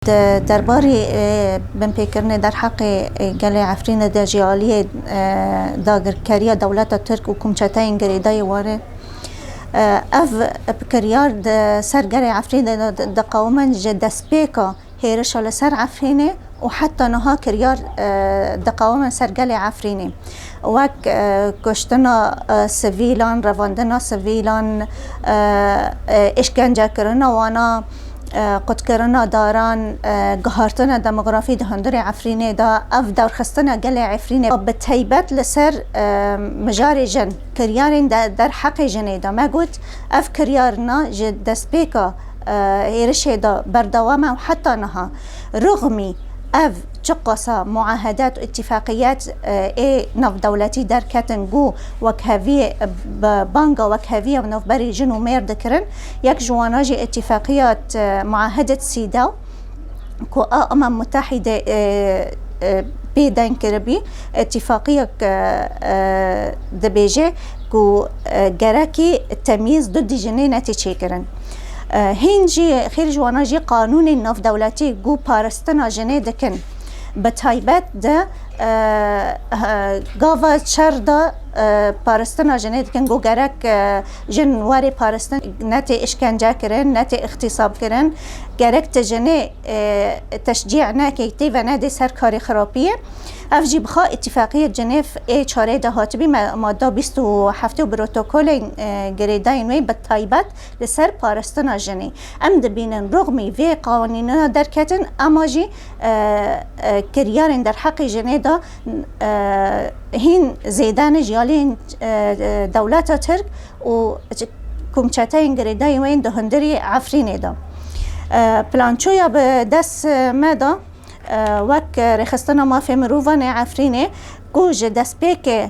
Di derbarê binpêkirinê derheqê gelê Efrînê de jî aliyê dagirkeriya dewleta Tirk û komçeteyên girêdayî were. Ev bikiryar di ser gelê Efrînê de diqewime ji destpêka hêrişa li ser Efrînê û heta niha kiryar diqewime ser gelê Efrînê. wek kuştina sivîlan, revandina sivîlan, îşkencekirina wan a, qutkirina daran, guhartina demografî di hundirê Efrînê de, ev derxistina gelê Efrînê bi taybet li ser mijarê jin, kiryarên derheqê jinê de me got, ev kiryarin a ji destpêka hêrişê de berdewam e û heta niha. Rixmî ev çiqas a muahedet û îtîfaqiyet ê navdewletî derketin ku wekheviyê bi banga wekheviyê navberî jin û mêr dikirin, yek ji wana jî îtîfaqiyet muahedet CEDAW ku a Umam Mutehîdê pê deng kiribî, îtîfaqiyek dibêje ku gerekî temyîz du dijî nêne tê çêkirin. Hîn jî xêr ji wana jî qanûnên navdewletî ku parastina jinê dikin. Bi taybet di gava çar de parastina jinê dikin ku gerek jin warê parastin netê îşkence kirin, netê îxtîsab kirin. Gerek tu jinê teşcî nekî tê venedê ser karê xirapiyê. Ev jî bi xwe Îtîfaqiyê Cinêv ê çarê de hatibî, madda bîst û heft û protokolên girêdayên wê bi taybet Li ser parastina jinê em dibînin rûxmî vê qanûna derketin ema jî kiryarên derheqê jinê de hîn zêde ne ji aliyên dewleta Tirk û komçeteyên girêdayî wê di hundirê Efrînê de. Plançoya bi dest me de wek Rêxistina Mafê Mirovan ê Efrînê ku ji destpêkê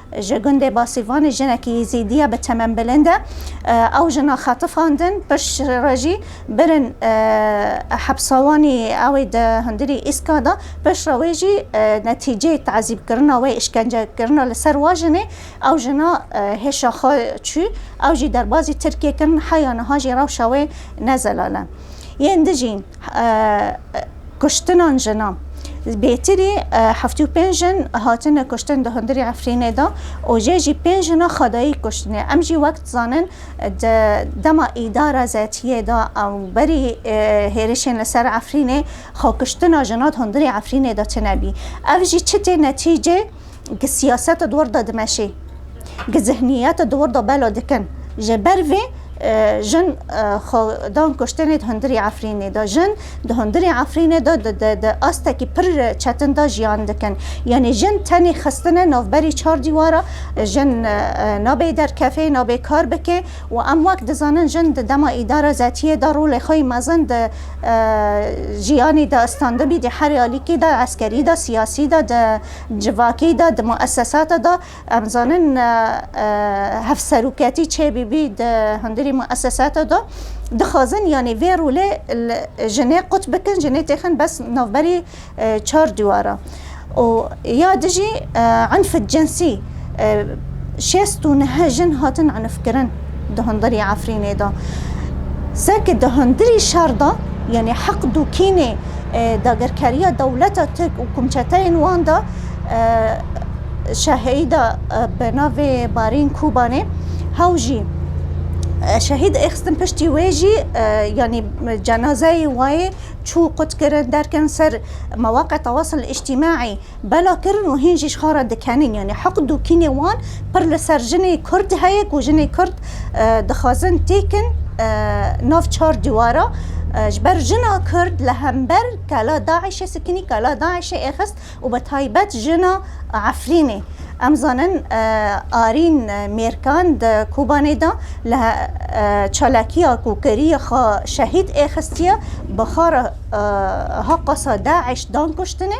Ji gundê Basîrvanê jinekî Yezîdî ya bi temen bilind e. Ew jina xetifandin, pişt re jî birin hepsawanî ew ê di hundirî Îskan de. Pişt re wê jî netîceyê tezîbkirina wê, îşkencekirina li ser wa jinê. Ew jina hêşa xwe çû, ew jî derbazî Tirkiyê kirin, heya niha jî rewşa wê ne zelal e. Yên di jî. Kuştinan jinan. Bêtirî heftê û pênc jin hatine kuştin di hundirê Efrînê de û jê jî pênc jina xwedayî kuştine. Em jî wek dizanin di dema îdara ZT'yê de û berî hêrişên li ser Efrînê xwe kuştina jinan di hundirê Efrînê de tune bî. Ev jî çi tê netîcê? gi siyaseta di wir de dimeşê, gi zihniyeta di wir de bela dikin. Ji ber vê jin xwe dan kuştinê di hundirê Efrînê de. Jin di hundirê Efrînê de di astekî pir çetin de jiyan dikin. Yanî jin tenê xistine navberî çar dîwar e. Jin nabê derkevê, nabê kar bike û em wek dizanin jin di dema îdara zetiyê de rolê xwe yê mezin di jiyanê de standibî, di her alîkî de, eskerî de, siyasî de, di Civakî de di muesesate de em dizanin hevseroketî çê bîbî di hundirî muesesate de dixwazin yanî vê rolê jinê qut bikin jinê têxin bes navberî çar dîwara û ya dijî enf censî Şêst û neh jin hatin enifkirin di hundirî Efrînê de. Seke di hundirî şer de yanî heqd û kînê dagirkeriya dewleta Tirk û komçeteyên wan de şehîda bi navê Barîn Kûbanê hew jî şehîd êxistin piştî wê jî yanî cenazeyê wayê çû qutkirin derkerin ser mewaqa tewasil îctîmaî. bela kirin û hîn jî ji xwe re dikenîn. Yanî hiqd û kînê wan pir li ser jinê kurd heye ku jinê kurd dixwazin têkin nav çar dîwara. Ji ber jina kurd li hember kela DAIŞ'ê sikinî, kela DAIŞ'ê ê xist û bi taybet jina Efrînê. Em zanin Arîn Mêrkan di Kobanê de li çalakiya ku kiriye xwe şehîd ê xistiye bi xwe re ha qasa DAIŞ dan kuştinê.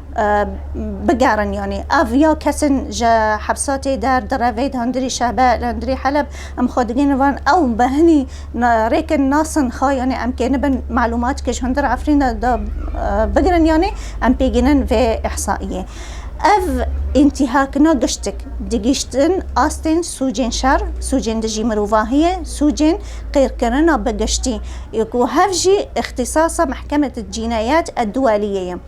bigerin yanî ev ya kesên ji hepsatê der di revê hundirî Şehber, hundirî Heleb em xwe digihînin van ew bi hinî rêkin nasin xwe yanî em kêni bin malûmat ke ji hundir Efrîn de bigirin yanî em pê gihînin vê îhsaîyê. Ev întîhakina giştik digihîştin astên sûcên şer, sûcên dijî mirovahiyê, sûcên qîrkirina bi giştî ku hev jî îxtîsasa Mehkemete Cînayet Edduweliyê ye.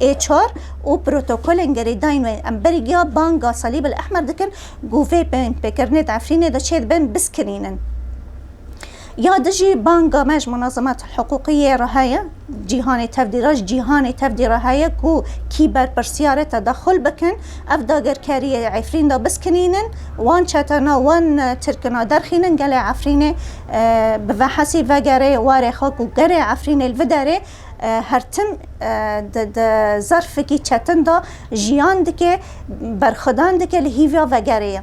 ê çar û protokolên gerîdayîn wê em berî giya banga Salîbil Ehmer dikin ku vê pêkirinê di Efrînê de çê dibin biskinînin. Ya di jî banga me ji Munazemetel Hiqûqî yê re heye, cîhanê tevdî re, ji cîhanê tevdî re heye ku kî berpirsiyar e tedaxul bikin, ev dagirkeriyê di Efrîn de biskinînin, wan çetena, wan tirkina derxînin gelê Efrînê bi vehesî vegerê warê xwe ku gerê Efrînê li vi derê. Her tim di di zerfekî çetin de jiyan dike, berxwedan dike li hîvya vegerê ye.